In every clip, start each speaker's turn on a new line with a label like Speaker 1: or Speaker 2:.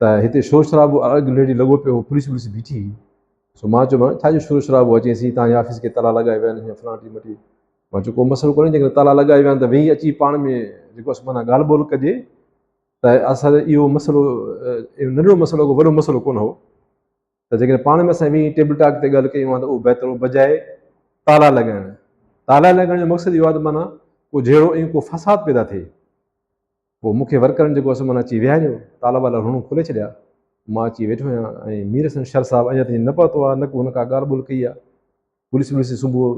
Speaker 1: ته هتي شور شرابو اڳ لڙي لڳو پيو هو پوليس وليس بيٺي هئي سو مان چيومان ڇا جو شور شرابو آهي چيسين تانجي آفيس کي تالا لڳائي ويا آهن فلاڻي مٽي مان چيو ڪو مسئلو ڪونهي جيڪڏهن تالا لڳائي ويا آهن ته ويهي اچي پاڻ ۾ جيڪو اسان معنيٰ ڳالهه ٻولهه ڪجي ته اسان اهو مسئلو ننڍڙو مسئلو ڪو وڏو مسئلو ڪونه هو ته جيڪڏهن پاڻ ۾ اسان ويهي ٽيبل ٽاڪ تي ڳالهه ڪيون آهن ته اهو بهتر بجائي تالا لڳائڻ تالا لڳائڻ جو مقصد اهو آهي ته معنيٰ کو جهيڙو ۽ ڪو فساد پيدا ٿئي پوء مون کي ورڪرن جيڪو اسمان اچي وهاريو، تالا والا رهڻو کولي ڇڏيا، مان اچي ويٺو آهيان ۽ مير حسن شر صاحب اڃا تائين نه پهتو آهي، نه ڪو هن ڪا ڳالهه ٻولهه ڪئي آهي. پوليس ٻوليس جي سنبوء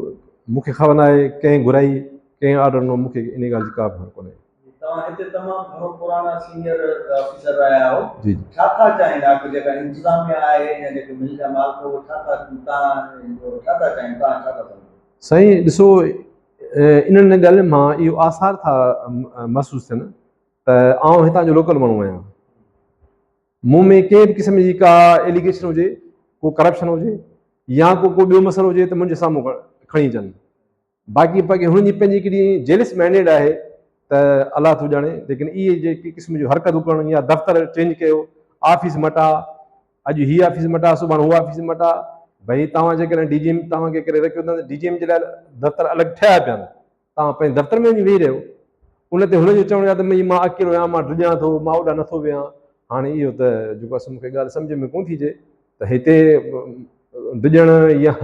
Speaker 1: مون کي خبر ناهي، ڪنهن گهرائي، ڪنهن آرڊر ڏنو، مون کي انهيء ڳالهه جي ڪا به خبر ڪونهي. توهان هتي تمام
Speaker 2: گهڻو پراڻا سينئر آفيسر رهيا آهو، ڇا ٿا
Speaker 1: چاهين؟
Speaker 2: آخر جيڪا انتظاميا آهي يا جيڪي مل جا مالڪ هئا، اهي ڇا ٿا، توهان ڇا ٿا چاهين، توهان ڇا ٿا سمجهو؟ سائين ڏسو،
Speaker 1: انهن ڳالهين مان اهو آثار ٿا محسوس ٿين ته آئون هتان جو لوڪل ماڻهو آهيان. مون ۾ ڪنهن به قسم جي ڪا ايليگيشن هجي، ڪو ڪرپشن هجي يا ڪو ڪو ٻيو مسئلو هجي ته منهنجي سامهون کڻي اچن. باقي باقي هنن جي پنهنجي ڪيڏي جيلس مينڊيٽ آهي ته الله ٿو ڄاڻي ليڪن اهي جي ڪي قسم جو حرڪتون ڪرڻ يا دفتر چينج ڪيو، آفيس مٽا، اڄ هي آفيس مٽا سڀاڻ هو آفيس مٽا ڀئي توهان جيڪڏهن ڊي جي ايم توهان کي ڪري رکيو اٿن ڊي جي ايم جي لاء دفتر الڳ ٺهيا پيا آهن توهان پنهنجي دفتر ۾ ويهي رهيو ان تي هن جو چوڻ آهي ته مئي مان اڪيلو آهيان مان ڊڄان ٿو مان اوڏا نٿو ويهان هاڻي اهو ته جيڪو اصل مون کي ڳالهه سمجھ ۾ ڪون ٿي اچي ته هتي ڊڄڻ يا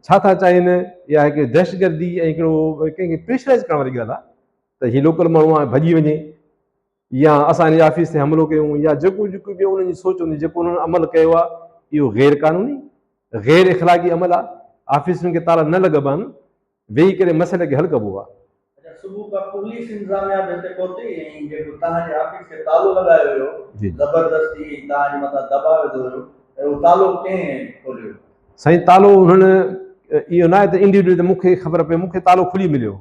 Speaker 1: ڇا ٿا چاهين يا هڪ دهشتگردي ۽ هڪڙو ڪنهن کي پريشرائز ڪرڻ واري ڳالهه آهي ته هي لوڪل ماڻهو آهي ڀڄي وڃي يا اسان انهن جي آفيس تي حملو ڪيون يا جيڪو جيڪو به انهن جي سوچ هوندي جيڪو انهن عمل ڪيو آهي اهو غير قانوني غير اخلاقي عمل آهي آفيسن کي تالا نه لڳبا آهن ويهي ڪري مسئلي کي حل ڪبو آهي. صبح کان
Speaker 2: پوليس انتظاميا به هتي پهتي ۽ جيڪو توهان جي آفيس کي تالو لڳايو ويو زبردستي ۽ توهان جي مٿان
Speaker 1: دٻاء وڌو ويو ته اهو تالو ڪنهن کوليو؟ سائين تالو انهن اهو ناهي ته انڊيوڊل ته مون کي خبر پئي مون کي تالو کلي مليو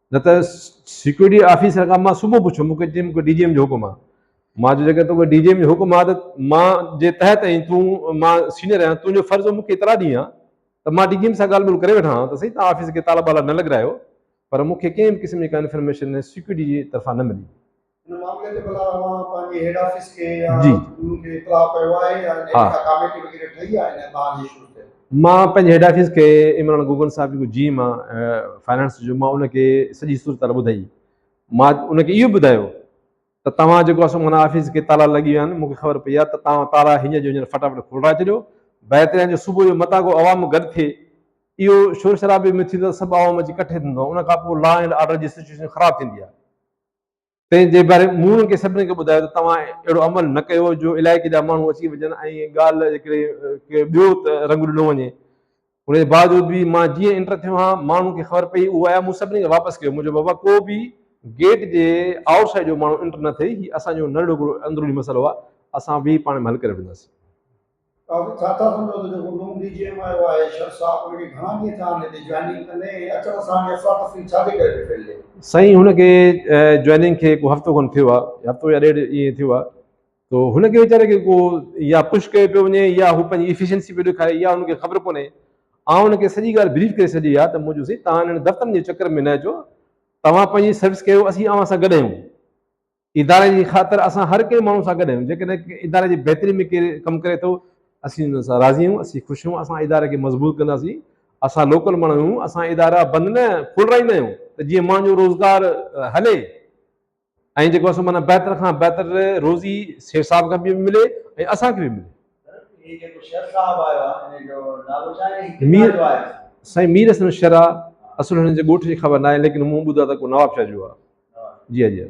Speaker 1: نه ته سيڪيورٽي آفيسر کان مان صبح پڇيو مون کي چيائين مون کي ڊي جي ايم جو حڪم آهي مان چيو جيڪڏهن توکي ڊي جي ايم جو حڪم آهي ته مان جي تحت آهين تون مان سينئر آهيان تنهنجو فرض هو مون کي اطلاع ڏينء ها ته مان ڊي جي ايم سان ڳالهه ٻولهه ڪري وٺان ها ته سهي توهان آفيس کي تالا ٻالا نه لڳرايو پر مون کي ڪنهن به قسم جي ڪا انفرميشن سيڪيورٽي جي طرفان نه ملي. ان معاملي تي
Speaker 2: بلا اوهان پنهنجي هيڊ آفيس کي يا جي ان کي اطلاع ڪيو آهي يا ان ها. ڪا ڪاميٽي وغيره ٺهي آهي ان تان جي شروع ٿيل مان پنهنجي هيڊ آفيس
Speaker 1: کي عمران گوگن صاحب جيڪو جي ايم آهي فنانس جو مان ان کي سڄي صورتحال ٻڌائي مان ان کي اهو ٻڌايو ته توهان جيڪو اسان منا آفيس کي تالا لڳي ويا آهن مون کي خبر پئي آهي ته توهان تالا هينئر جو هينئر فٽافٽ کولرائي ڇڏيو بهترين جو صبح جو متان ڪو عوام گڏ ٿئي اهو شور شرابي ۾ ٿيندو سڀ عوام اچي ڪٺي ٿيندو ان کان پوء لا اينڊ آرڊر جي سچويشن خراب ٿيندي آهي تنهن جي باري مون کي سڀني کي ٻڌايو ته توهان اهڙو عمل نه ڪيو جو علائقي جا ماڻهو اچي وڃن ۽ ڳالهه جي ڪري ڪي ٻيو رنگ ڏنو وڃي. ان جي باوجود به مان جيئن انٽر ٿيو ها ماڻهن کي خبر پئي اهو آيا مون سڀني کي واپس ڪيو منهنجو بابا ڪو به گيٽ جي آئوٽ سائيڊ جو ماڻهو انٽر نه ٿئي هي اسان جو نرڙو گڙو اندروني مسئلو آ اسان ويهي پاڻ ۾ حل ڪري وٺنداسين. توهان ڇا
Speaker 2: ٿا سمجهو ته جيڪو نون ڊي جي ايم آيو آهي شر صاحب ان کي گهڻا ڏينهن ٿيا
Speaker 1: آهن هتي جوائننگ ڪندي ۽ اچڻ سان هاڻي افرا تفري ڇا جي ڪري پئي ڦهلجي؟ سائين هن کي جوائننگ کي ڪو هفتو کن ٿيو آهي هفتو يا ڏيڍ ائين ٿيو آهي تو هن کي ويچاري کي ڪو يا پش ڪيو پيو وڃي يا هو پنهنجي ايفيشنسي پيو ڏيکاري يا هن کي خبر ڪونهي آئون هن کي سڄي ڳالهه بريف ڪري ڇڏي آهي ته مون چيو سائين تهان هنن دفترن جي چڪر ۾ نه اچو توهان پنهنجي سروس ڪيو اسين اوهان سان گڏ آهيون اداري جي خاطر اسان هر ڪنهن ماڻهو سان گڏ آهيون، جيڪڏهن ڪنهن اداري جي بهتري ۾ ڪير ڪم ڪري ٿو، اسين ان سان راضي آهيون، اسين خوش آهيون، اسان اداري کي مضبوط ڪنداسين، اسان لوڪل ماڻهو آهيون، اسان ادارا بند نه کولرائيندا آهيون ته جيئن ماڻهن جو روزگار هلي ۽ جيڪو اسان معنيٰ بهتر کان بهتر روزي سيٺ صاحب کي به ملي ۽ اسان کي به ملي.
Speaker 2: مير، سائين مير حسن
Speaker 1: شرح، اصل هنن جي ڳوٺ جي خبر ناهي ليڪن مون ٻڌو آهي ته ڪو نوابشاهه جو آهي. جي ها جي ها.